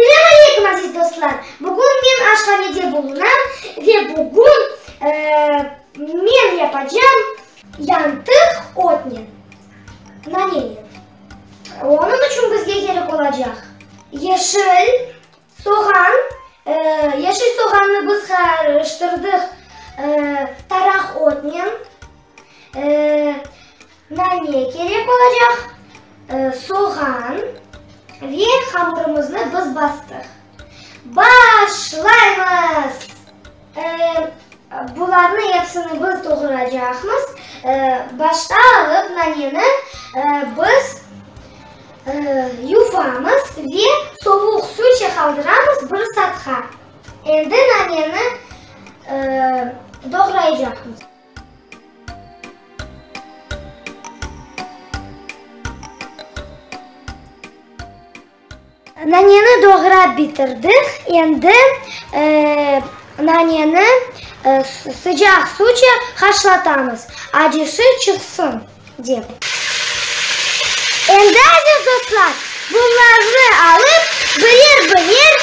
Selâm aleykum, aziz dostlar! Bugün men aşhanede bulunam ve bugün men yapacağım yantıq otnen. Nareniy. Onıñ içün bizge kerek olacaq, yeşil soğan, yeşil soğannı biz qarıştırdıq taraq otnen, nane kerek olacaq, soğan ve hamurımıznı biz bastıq. Ba-a-aşlaymız! Bularnı epsini biz doğuracaqmız. Başta alıp naneni biz yuvamız ve sovuq su içe qaldıramız bir saatqa. Endi naneni doğraycaqmız. Naneni doğrap bitirdik, endi naneni sıcaq suvca haşlatamız, acısı çıqsın dep. Endi, aziz dostlar, bunlarnı alıp, birer-birer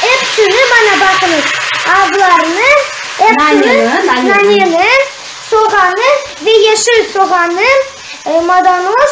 epsini, mana baqıñız, azlarnı, epsini, naneni, soğanı ve yeşil soğanı, maydanoz,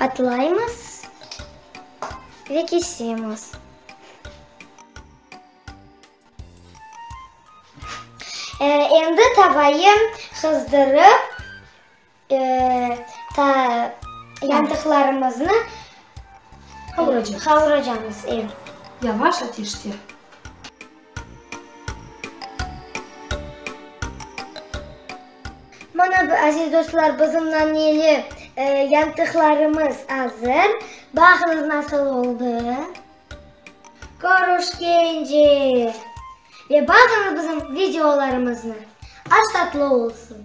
Atlaymız ve kesemiz. Endi tavayı qızdırıp. Ta yantıqlarımıznı qavuracamız. Yavaş ateşte. Mana, aziz dostlar, bizim naneli yantıqlarımız azır. Baqıñız, nasıl oldı. Körüşkence! Ve baqıñız bizim videolarımıznı. Aş tatlı olsun!